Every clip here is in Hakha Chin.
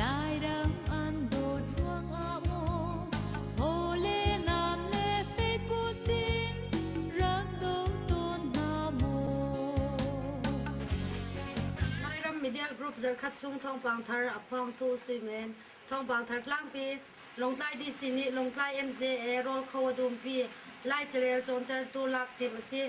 Lairam an dawt ruangah maw Thawle nam le feikut in rak dawt tawn hna maw Lairam Midian Group zarkhat chung thawngpang thar a phawngthu suimen thawngpang thar tlangpi Longtlai DC nih Longtlai MJA rawl kho a dumpi Lai carel cawntertu lak tim a si.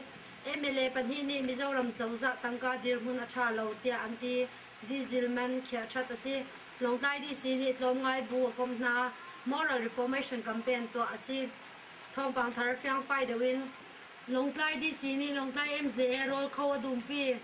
MLA pahnih nih Mizoram cozah tangka dirhmun a tha lo tiah an ti. Dizilman khiah that a si. Lawngtlai DC nih tlawmngai bu a komh hna. Moral Reformation Campaign tuah a si. Thawngpang thar fiang fai deuh in Lawngtlai DC nih Lawngtlai MZA rawl kho a dumpi.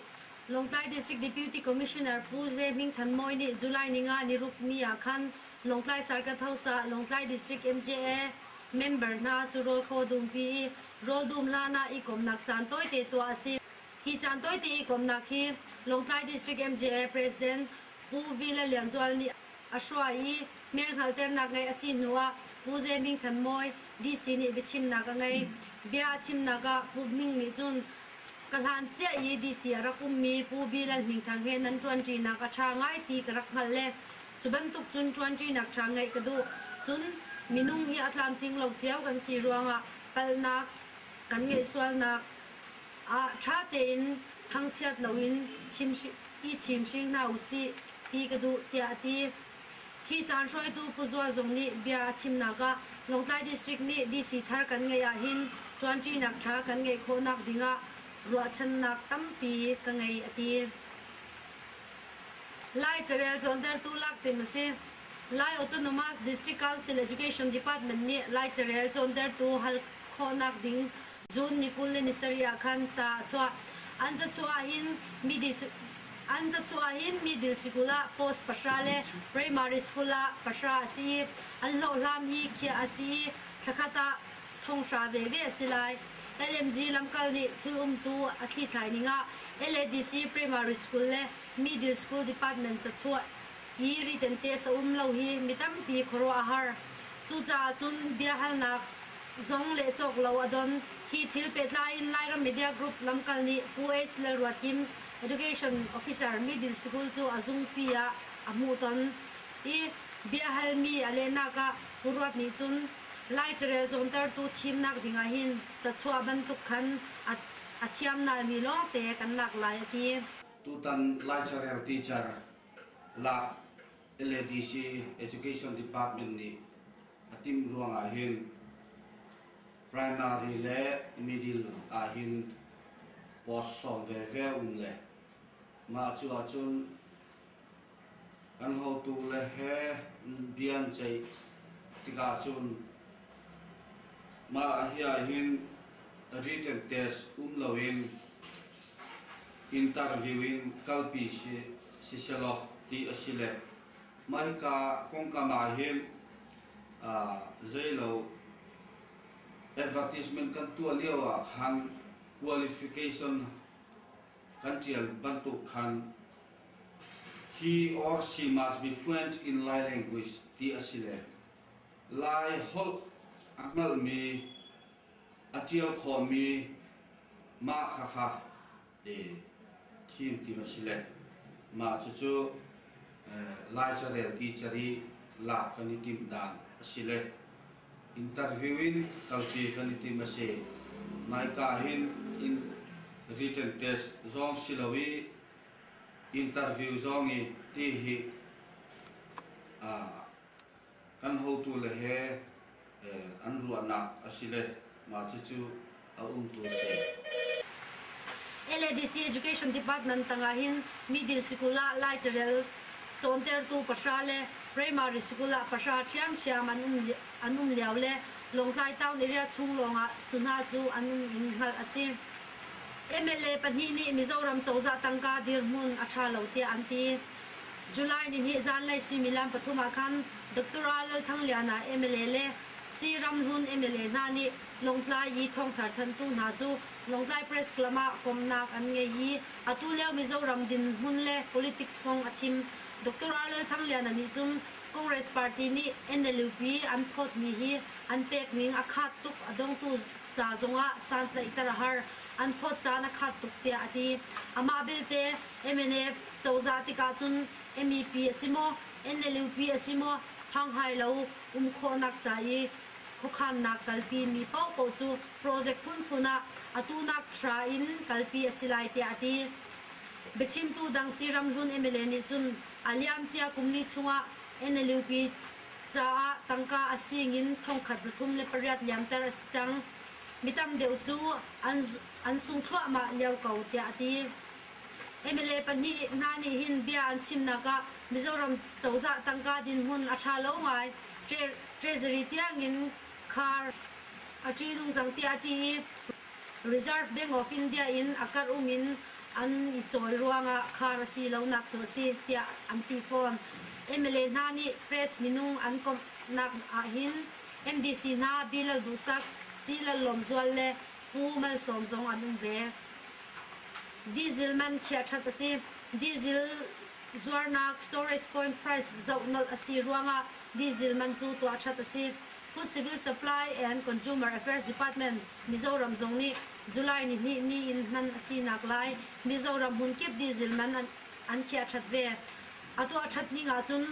Lawngtlai District Deputy Commissioner Pu Ze Hming Than Mawi nih July ni nga nirukni ah khan Lawngtlai Circuit House ah Lawngtlai District MJA member hna cu rawl kho dumpi i rawl dum hlan ah i komnak caan tawite tuah a si. Hi caan tawite i komnak hi Lawngtlai District MJA President Pu Vile Lian Zual nih a hruai i hmel hngalhternak ngei a si hnu ah Pu Ze Ming Than Mawi DC nih biachimnak a ngei. Bia a chimnak ah Pu Ming nih cun Ka hlan cia i DC a rak ummi Pu Vile Hming Thang he nan ṭuanṭinak a ṭha ngai ti ka rak hngalh le cu bantuk cun ṭuanṭinak ṭha ngeih ka duh. Cun minung hi a tlamtling lo cio kan si ruangah palhnak kan ngeih sualnak Ah ṭha tein thangchiat loin i chimhring hna u sih ti ka duh tiah a ti. Hi caan hruaitu Pu Zual Zung nih bia a chimnak ah Lawngtlai District nih DC thar kan ngeih ahhin ṭuanṭinak ṭha kan ngeih khawhnak dingah ruahchannak tampi ka ngei a ti. Lai carel cawntertu laktim a si. Lai Autonomous District Council Education Department nih Lai carel cawntertu hal khawhnak ding June ni kul le ni sarih ah khan ca a chuah. An cachuah hin middle an cachuah hin middle school ah post pahra le primary school ah pahra a si i an hlawhhlam hi khiah a si i thlakhat ah thonghra veve a si lai. LMG lamkal nih thil umtu a thlithlai ning ah LADC primary school le middle school department cachuah i ritente a sa um lo hi mi tampi khuaruahhar. Cucaah cun biahalnak zong le cawk lo a don. Hi thil pehtlai in Lairam Media Group lamkal nih Pu Ace Lalruatim, Education Officer Middle School cu a zungpi ah a hmuh ton i biahalmi a lehnak ah Pu Ruat nih cun Lai carel cawntertu thimnak ding ah hin cachuah bantuk khan a thiamnaimi lawngte kan lak lai a ti. Tutan Lai carel teacher lak LADC Education Department nih a timh ruangah hin primary le middle ah hin post sawm veve um le mah cu ahcun kan hotu le he bian ceih tikah cun mah hi ahhin written test um loin interview in kalpi siselaw ti a si le mah hika kongkam ah hin zeilo advertisement kan tuah lio ah khan qualification kan tial bantuk khan he or she must be fluent in Lai language ti a si le Lai holh a hngalmi a ṭial khawmmi mah khakha thim tim a si le mah cucu lai carel ti cari lak kan i timh dan a si le interview in kalpi kan i timh a si. Naika hin in written test zong si lo i interview zong i ti hi kan hotu le he an ruahnak a si le mah cucu a umtu a si. LADC Education Department tangah hin middle school ah lai carel cawntertu pahra le primary school ah pahra ṭhiamṭhiam an um an um lio le Lawngtlai town area chung lawngah cu hna cu an um in hngalh a si. MLA pahnih nih Mizoram cozah tangka dirhmun a ṭha lo tiah an ti. July ni hnih zanlei suimilam pathum ah khan Doctor Ah Lal Thang Liana mla le Si Ram Hlun mla hna nih Lawngtlai i thawngthar thanhtu hna cu Lawngtlai Press Club ah komhnak an ngei i atu lio Mizoram dinhmun le politics kong a chim. Doctor Ah Lal Thang Liana nih cun Congress party nih NLUP an phawtmi hi an pekning a khat tuk, a dongtu ca zongah santlaihter a har, an phawt caan a khat tuk tiah a ti. Amah belte, mnf, Cozah tikah cun MEP a si maw, NLUP a si maw, thanghai lo um khawhnak ca i khuakhannak kalpi mi paohpaoh cu project phunphun ah atu nak thra in kalpi a si lai tiah a ti. Biachimtu dang si Ram Hlun mla nih cun a liamcia kumli chungah NLUP caah tangka a sing in thongkhat zathum le pariat liamter a si cang. Mi tam deuh cu an sung thluahmah lio ko tiah a ti. mla pahnih hna nih hin bia an chimnak ah Mizoram cozah tangka dinhmun a ṭha lo ngai, Treasury tiangin khar a ṭih nungcang tiah a ti i Reserve Bank of India in a karhum in an i cawl ruangah khar a si lonak cu a si tiah an ti fawn. MLA hna nih press minung an komhnak ahhin MDC hna Bi Lal Duhsak, Si Lal Lawmzual le Pu Malsawm zong an um ve. Diesel man khia that a si. Diesel zuarnak storage point price zoh nolh a si ruangah diesel man cu tuah that a si. Food Civil Supply and Consumer Affairs Department Mizoram zong nih July ni hnih ni in hman a sinak lai Mizoram hmunkip diesel man an khiah that ve. A tuah that ning ahcun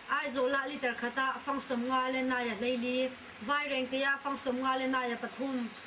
Aizawl ah liter khat ah fangsawm nga le nai a hleili, Vairengte ah fangsawm nga le nai a pathum,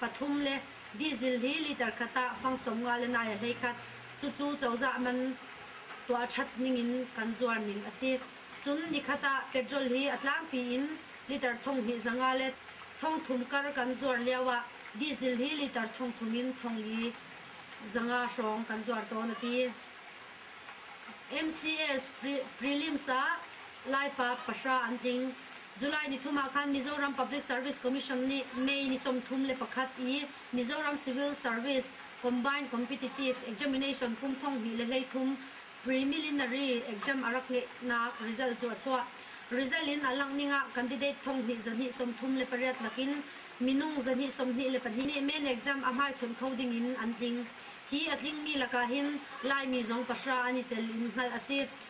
pathum le diesel hi liter khat ah fang sawmnga le nai a hlei khat. Cucu cozah man tuah ṭhat ningin kan zuar ning a si. Cun nikhat ah petrol hi a tlangpi in liter thong hnih zanga le thong thum kar kan zuar lioah diesel hi liter thong thum in thong li zanga hrawng kan zuar tawn a ti. MCS prelims ah laifa pahra an tling. July nithum ah khan Mizoram Public Service Commission nih May ni sawmthum le pakhat i Mizoram Civil Service Combined Competitive Examination kum thonghnih le hleithum Preliminary Exam a rak ngeihnak result cu a chuah. Result in a langhning ah candidate thonghnih zahnih sawmthum le pariat lakin minung zahnih sawmhnih le pahnih nih men exam a hmaichunh kho ding in an tling. Hi a tlingmi lakah hin Laimi zong pahra an i tel in hngalh a si.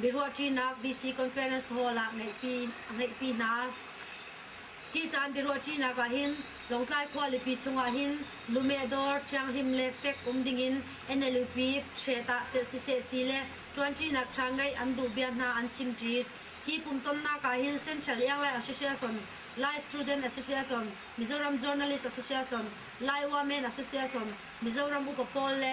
biaruahṭinak DC Conference Hall ah ngeihpi a ngeihpi hna. Hi caan biaruahṭinak ah hin Lawngtlai khualipi chungah hin lumeh dawr thianghlim le fek um dingin NLUP hret ah telh siseh ti le ṭuanṭinak ṭha ngeih an duh bia hna an chimṭi. Hi pumtonnak ah hin Central Airline Association, Lai Student Association, Mizoram Journalist Association, Lai Women Association, Mizoram Upa pawl le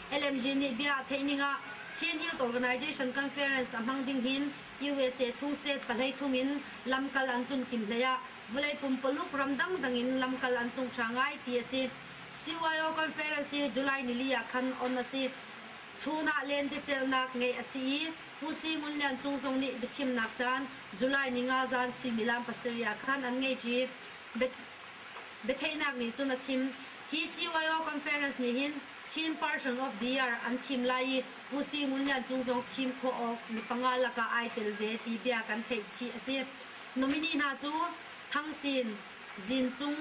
LMG nih bia a theih ning ah Chin Youth Organisation Conference a hmang ding hin usa chung state pahlei thum in lamkal an tlun kim hlei ah vawlei pumpaluk ram dangdang in lamkal an tung ṭha ngai ti a si. CYO Conference hi July nili ah khan on a si. Chun ah lentecelhnak ngeih a si i Pu Si Ngun Lian Cung zong nih biachimnak caan July ni nga zan suimilam pasarih ah khan an ngei ṭi. Biatheihnak nih cun a chim, Hi CYO Conference nih hin Chin Person of the Year an thim lai i Pu Si Ngun Lian Cung zong thim khawh awk mi panga lakah ai tel ve ti bia kan theih chih a si. Nominee hna cu Thang Sin, Zin Cung,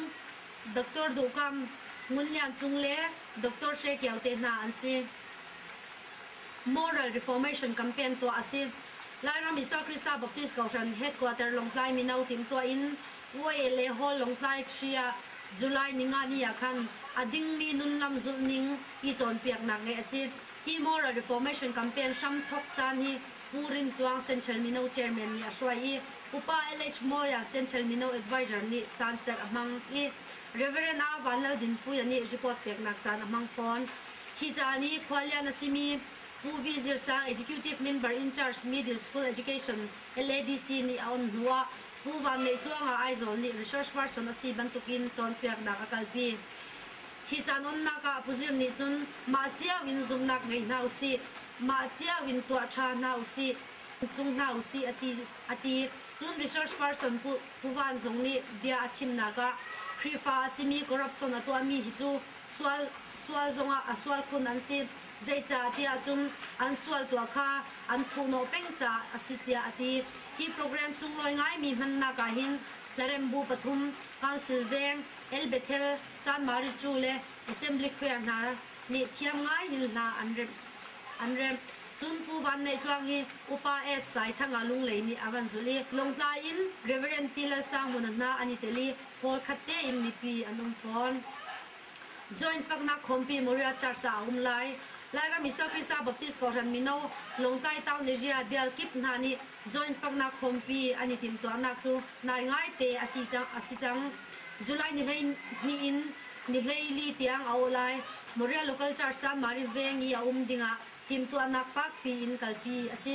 Doctor Duh Kam, Ngun Lian Cung le Doctor Hre Kio te hna an si. Moral Reformation Campaign tuah a si. Lairam Isua Krista Baptist Kohhran Headquarter Lawngtlai Mino timhtuah in Hue le Haw Lawngtlai Hri ah July Ningani ah khan a dingmi nunlam zulhning i cawnpiaknak ngeih a si. Hi Moral Reformation Campaign hramthawk caan hi Pu Rin Tuang Central Mino Chairman nih a hruai i Upa LH Mawia Central Mino Adviser nih caan set a hmang i Rev. Ah Van Lal Dinpuia nih report peknak caan a hmang fawn. Hi caan i khualian a simi Pu V. Zir Sang Executive Member in charge Middle School Education, LADC, nih a on hnuah Pu Vanneihtluanga Aizawl nih research person a si bantukin cawnpiaknak a kalpi. Hi caan onnak ah Pu Zir nih cun mah cio in zumhnak ngei hna usih, mah cio in tuah ṭha hna usih, tlung hna usih a ti, a ti. Cun research person Pu, Pu Van Zung nih bia a chimnak ah Khrihfa a simi corruption a tuahmi hi cu sual, sual zongah a sual khun an si. zeicah tiah cun an sual tuah kha an thuhhnawh peng caah a si tiah a ti. Hi program sunglawi ngaimi hmannak ah hin Hlarembu pathum, Council Veng, El Bethel, Chanmarichu le Assembly Choir hna nih thiam ngaiin hla an remh. An remh. Cun Pu Van Neih Tluang hi Upa Es Sai Thanga Lunglei nih a van zulh i Lawngtla in Reverend T. Lalsangmuna hna an i tel i kawl khat tein mipi an um fawn. Joint faknak khawmpi Moria Church ah a um lai. Lairam Iso Khrihfa Baptist Kawhhran mino Lawngtlai Town Area Bial kip hna nih joint faknak khawmpi an i timhtuahnak cu nai ngaite a si cang. A si cang. July ni hleihnih in ni hleili tiang a awh lai. Moria Local Church Chanmari Veng i a um ding ah timhtuahnak fakpi in kalpi a si.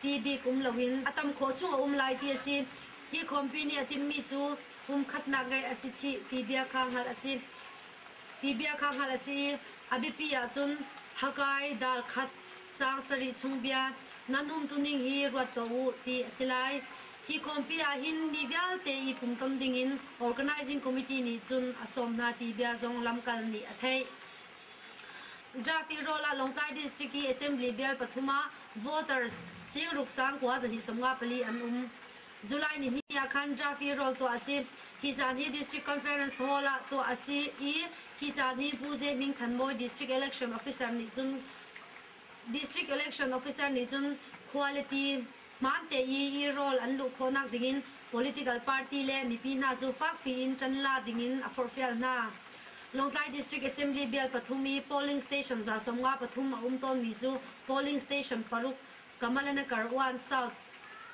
ti bik um loin a tam khawh chung a um lai ti a si. Hi khawmpi nih a timmi cu kum khatnak ngeih a si chih ti bia kha hngalh a si. Ti bia kha hngalh a si i a biapi ahcun hakai darkhat caang sarih chung bia nan umtuning hi ruat tuah u ti a si lai. Hi khawmpi ah hin mi vialte i pumton dingin organizing committee nih cun a sawm hna ti bia zong lamkal nih a theih. Traffic roll ah Lawngtlai District i Assembly bial pathum ah voters sing ruksang kua zarih sawmnga pali an um. July ni hnih ah khan traffic roll tuah a si. Hi caan hi District Conference Hall ah tuah a si i hi caan hi Pu Ze Ming Than Mawi District Election Officer nih cun District Election Officer nih cun quality Hmaan teii i rawl an luh khawhnak dingin political party le mipi hna cu fakpi in ṭan la dingin a forhfial hna. Lawngtlai District Assembly bial pathum i polling station za sawmnga pathum a um tawnmi cu polling station paruk Kamalanakar One South,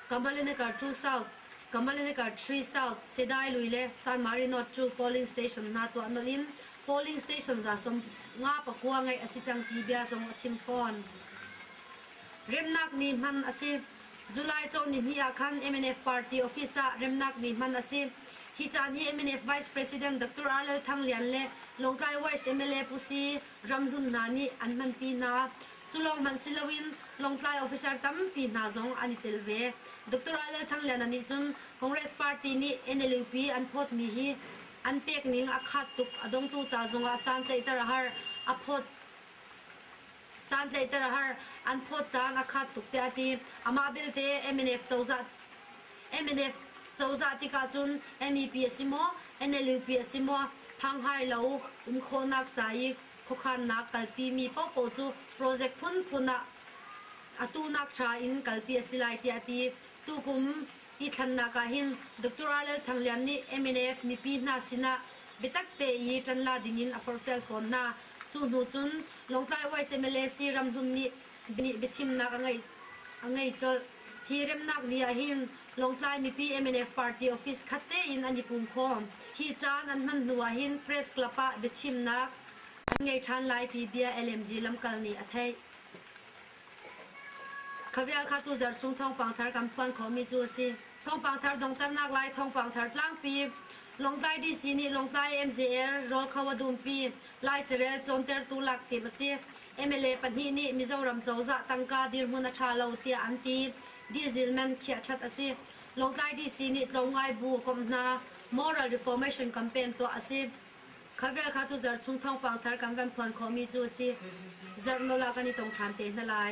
Kamalanakar Two South, Kamalanakar Three South, Sedai lui le Sanmari North cu polling station hna tuah nolh in polling station za sawmnga pakua ngeih a si cang ti bia zong a chim fawn. Remnak ni hman a si. July cawn nihnih ah khan MNF party office ah remnak ni hman a si. Hi caan hi MNF Vice President Dr. R. Lal Thang Lian le Lawngtlai West MLA Pu Si Ram Hlun hna nih an hmanpi hna. Cu lawng hmanh si loin Lawngtlai officer tampi hna zong an i tel ve. Dr. R. Lal Thang Liana nih cun Congress party nih NLUP an phawtmi hi an pekning a khat tuk. A dongtu ca zongah santlaihter a har. A phawt. Santlaihter a har. An phawt caan a khat tuk tiah a ti. Amah belte MNF cozah MNF cozah tikah cun MEP a si maw, NLUP a si maw phanghai lo um khawhnak ca i khuakhannak kalpimi paohpaoh cu project phunphun ah atu nak tra in kalpi a si lai tiah a ti. Tukum Hi thlannak ah hin Doctor RL Thang Lian nih mnf mipi hna sinah biatak te i ṭan la dingin a forhfial fawn hna. Cu hnu cun Lawngtlai West mla si Ram Hlun nih biachimnak a ngei colh. Hi remnak ni ah hin Lawngtlai mipi mnf party office khat tein an i pum khawm. Hi caan an hman hnu ah hin press club ah biachimnak an ngei ṭhan lai ti bia LMG lamkal nih a theih. Kha vial kha tu zarh chung thawngpang thar kan phuan khawhmi cu a si. Thawngpang thar donghternak lai thawngpang thar tlangpi. Lawngtlai DC nih Lawngtlai MJL rawl kho a dumpi. Lai carel cawntertu lak tim a si. MLA pahnih nih Mizoram cozah tangka dirhmun a ṭha lo tiah an ti. Diesel man khiah ṭhat a si. Lawngtlai DC nih tlawmngai bu komh hna. Moral reformation campaign tuah a si. Kha vel kha tu zarh chung thawngpang thar kan kan phuan khawhmi cu a si. Zarh nawl ah kan i tong ṭhan te hna lai.